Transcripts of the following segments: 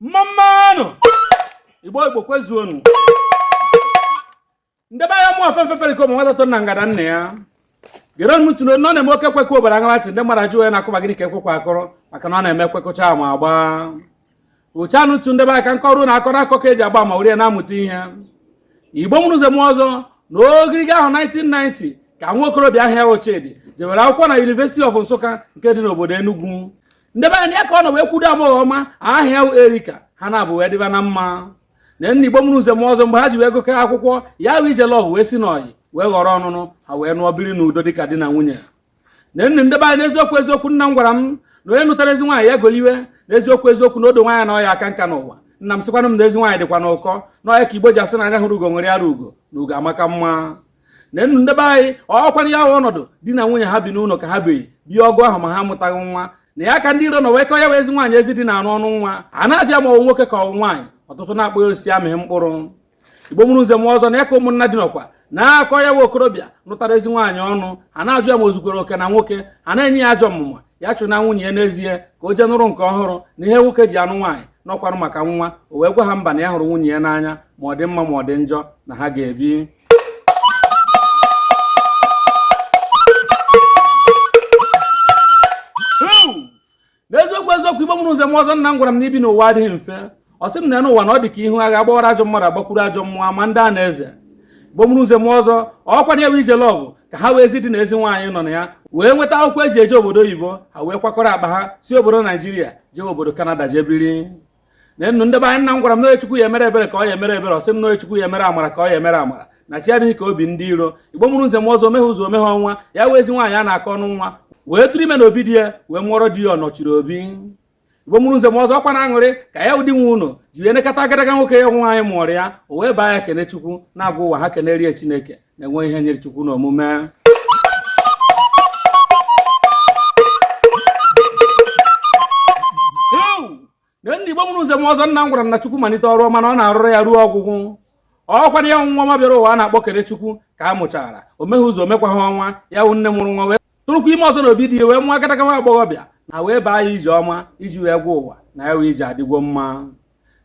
mmammanụ igbo igbo kwezuonụ ndebe anyị aha m afefe perikom nwata nọ na ngada nna ya gere m ntị nụ na ọ na-eme ekwe kụọ obodo aṅaa ntị ndị mmadụ ajụ ya na-akụba gịnị ka ekwekwa akọrọ maka na ọ na-eme kwekọcha ma agba ụcha nụtụ ndebe aka nke ọrụ na-akọrọ akọ ka e ji agba ama were ya na-amụta ihe igbo mụrụ nze mụọ ọzọ na ogiriga ahọ 1990 ka nwa okorobịa aha ya wụ chidi jewere akwụkwọ na University of Nsukka nke dị n'obodo Enugu ndị be anyị ya ka ọ nọ wee kwudo agbọghọ ọma aha ya wụ erika ha abụọ wee dịba na mma na nna igbo mụrụ nze mụọ ọzọ mgbe ha ji wee gụkọ akwụkwọ ya bụ ije love wee si n'ọyị wee ghọrọ ọnụnụ ha wee nụọ biri n'udo dịka di na nwunye na nne ndị be anyị n'eziokwu eziokwu nna m gwara m na onye nụtara ezi nwaanyị ya goliwe n'eziokwu eziokwu na odo nwaanyị na ọ ya-aka nka n'ụwa nna m sịkwanụ m na ezi nwaanyị dịkwanụ ụkọ na ọ ya ka igbo ji asị na anya hụrụ ugo ṅụrịara ugo na ugo amaka mma na enu ndebe anyị ọ kwanụ ya ọnọdụ di na nwunye ha bi n'ụlọ ka ha biri bie ọgụ ahọ ma ha amụtaghị nwa na ya ka ndị iro nọ wee kọọ ya wụ ezi nwaanyị ezi di na-anụ ọnụ nwa a na-ajụ ma ọ wụ nwoke ka ọ wụ nwaanyị ọtụtụ na-akpọ ya osisi amịghị mkpụrụ igbo mụrụ nze mụọ ọzọ na ya ka ụmụnna di nọkwa na-akọ ya nwa okorobịa lụtara ezi nwaanyị ọnụ ha na-ajụ ya ma o zukwara oke na nwoke ha na-enye ya ajọ ọmụma ya chụnaa nwunye ya n'ezie ka o jee nụrụ nke ọhụrụ na ihe nwoke ji anụ nwaanyị na ọ kwanụ maka nwa o wee gwa ha mba na ya hụrụ nwunye ya n'anya ma ọ dị mma ma ọ dị njọ na ha ga-ebi n'eziokwu eziokwu igbo mụrụ nze mụọ ọzọ nna m gwara m na ibi n'ụwa adịghị mfe ọ sị m na enu ụwa na ọ dị ka ihu agha gbawara ajọ mmadụ agbakwuru ajọ mmụọ ma ndị a na-eze igbo mụrụ nze mụọ ọzọ ọ kwanụ ya wụ ije love ka ha wụ ezi di na ezi nwaanyị nọ na ya wee nweta akwụkwọ e ji eje obodo oyibo ha wee kwakọrọ akpa ha si obodo naijiria jee obodo kanada jee biri na enu ndị be anyị nna m gwara m na onye chukwu ya-emere ebere ka ọ ya-emere ebere ọ sị m na onye chukwu ya-emere amara ka ọ ya-emere amara na chi adịghị ka obi ndị iro igbo mụrụ nze mụọ ọzọ o meghị izu o meghị ọnwa ya wụ ezi nwaanyị a na-akọ ọnụ nwa wee tụrụ ime na obi di ya wee mụọrọ di ya ọnọchiri obi igbo mụrụ nze mụọ ọzọ ọ kwanụ aṅụrị ka ya wụ di nwe ụlọ ji wee nekọta agadaga nwoke ya wụ nwaanyị mụọrọ ya o wee baa ya kenechukwu na-agwa ụwa ha keneere ya chineke na enweghị ihe nyịrị chukwu n'omume na nna igbo mụrụ nze mụọ ọzọ nna m gwara m na chukwu malite ọrụ ọma na ọ na-arụrụ ya ruo ọgwụgwụ ọ kwanụ ya wụ nwa ọma bịara ụwa a na-akpọ kenechukwu ka a mụchara o meghị izu o mekwaghị ọnwa ya wụ nne mụrụ nwa wee tụrụkwa ime ọzọ na obi di ya wee mụọ agadaga nwa agbọghọbịa na wee baa ya ijeọma iji wee gwa ụwa na ya wụ ije adịgwo mma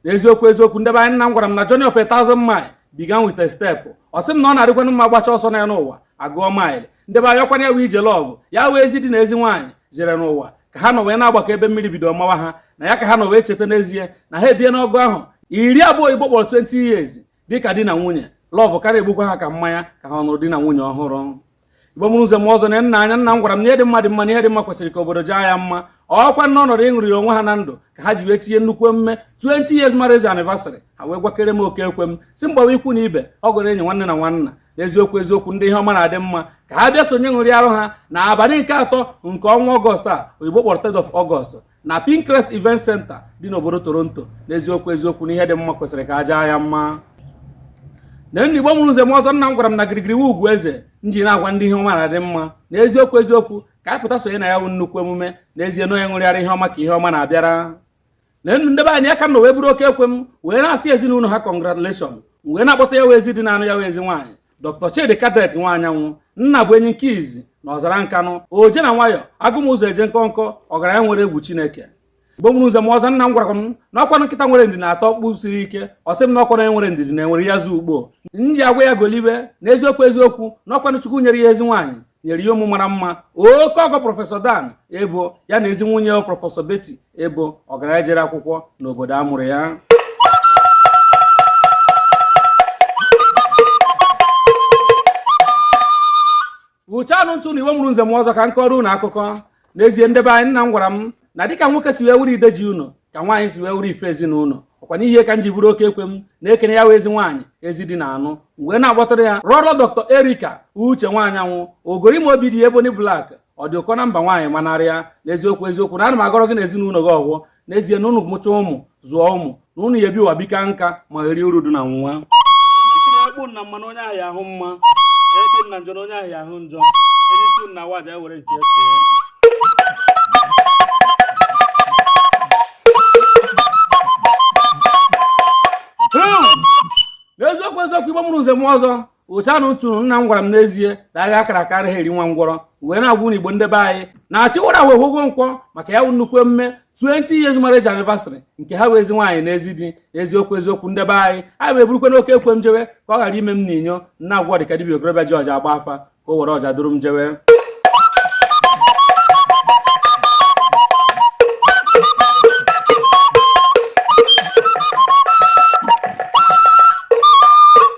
n'eziokwu eziokwu ndebe anyị nna m gwara m na journey of a thousand mile began with a step ọ sị m na ọ na-adịkwanụ mma a gbachaa ọsọ na enu ụwa a gụọ maịlị ndebe anyị ọ kwanụ ya wụ ije love ya wụ ezi di na ezi nwaanyị jere n'ụwa ka ha nọ wee na-agbakọ ebe mmiri bido mawa ha na ya ka ha nọ wee cheta n'ezie na ha ebiena ọgụ ahọ iri abụọ oyibo kpọrọ 20 years dịka di na nwunye lọvụ ka na- egbukwa ha ka mmanya ka ha nụrụ di na nwunye ọhụrụ igbo mụrụ nze mụọ ọzọ neenụ anya nna m gwara m na ihe dị mma dị mma na ihe dị mma kwesịrị ka obodo jaa ya mma ọkwa n'ọnọdụ ịṅụrịara onwe ha na ndụ ka ha ji wee tinye nnukwu emume 20 years marriage anniversary ha wee gwakere m oke ekwe m sị m gbawa ikwu na ibe ọgọ na enyi nwanne na nwanna n'eziokwu eziokwu ndị ihe ọma na-adị mma ka ha bịa sonye ṅụrịarụ ha na abalị nke atọ nke ọnwa ọgọst a oyibo kpọrọ 3rd of ọgọst na Pinecrest Event Center dị n'obodo Toronto n'eziokwu eziokwu na ihe dị mma kwesịrị ka a jaa ya mma neenụ Igbo mụrụ nze mụọ ọzọ nna m gwara m na girigiri wu ugwu eze m ji na-agwa ndị ihe ọma na-adị mma na eziokwu eziokwu ka anyị pụta sonye na ya bụ nnukwu emume n'ezie na onye ṅụrịara ihe ọma ka ihe ọma na-abịara neenụ nde be anyị ya ka m nọ wee buru oke ekwe m wee na-asị ezinụlọ ha congratulation wee na-akpọta ya wụ ezi di na-anụ ya wụ ezi nwaanyị Dr. Chidi Kadek Nwanyanwụ nna bụ enyi nke izi na ọzara nkanụ oje na nwayọ agụmụzọ eje nkọnkọ ọgaranya nwere egwu Chineke Igbo mụrụ nze mụọ ọzọ nna m gwara m na ọkwanụ nkịta nwere ndidi na-ata ọkpụ siri ike ọ sị m na ọkwanụ onye nwere ndidi na-enwere azụ ukpo m ji agwa ya golibe na eziokwu eziokwu na ọkwanụ Chukwu nyere ya ezi nwaanyị nyere ya ụmụ mara mma oke ọgọ prọfesọ dan ebo ya na ezi nwunye prọfesọ beti ebo ọgaranya jere akwụkwọ n'obodo a mụrụ ya hụchanụ ntị na Igbo mụrụ nze mụọ ọzọ ka m kọọrọ unu akụkọ n'ezie nde be anyị nna m gwara m na dịka nwoke si wee wuru ide ji ụlọ ka nwaanyị si wee wuru ife ezinụlọ ọkwa n'ihi ka m ji buru oke ekwe m na-ekene ya wụ ezi nwaanyị ezi di na-anụ wee na-akpọtara ya lọọlọ dọkịta erika uche nwanyanwụ ogori ma obi di eboni blak ọ dị ụkọ na mba nwaanyị manarịa n'eziokwu eziokwu na ana m agọrọ gị na ezinụlọ gị ọfọ n'ezie na ụnụ mụcha ụmụ zụọ ụmụ na ụnụ ya-ebi ụwa bika nka ma ga-eri uru dị na nwa ekpu na mmanụ onye ahịa ahụ mma ekpu na njọ na onye ahịa ahụ njọ erisi na waja ewere nke n'eziokwu eziokwu igbo mụrụ nze mụọ ọzọ otu anụ tụrụ nna m gwara m n'ezie na agha a kara aka anaghị eri nwa ngwọrọ wee na-agwa unu igbo ndị be anyị na achịwara wee hụgo nkwọ maka ya bụ nnukwu emume 20 years marriage anniversary nke ha wụ ezi nwaanyị na ezi di eziokwu eziokwu nde be anyị anyị wee burukwanụ oke ekwe m jewe ka ọ ghara ime m na inyo na-agwọ dịka dibia okorobịa ji ọja agba afa ka o were ọja duru m jewe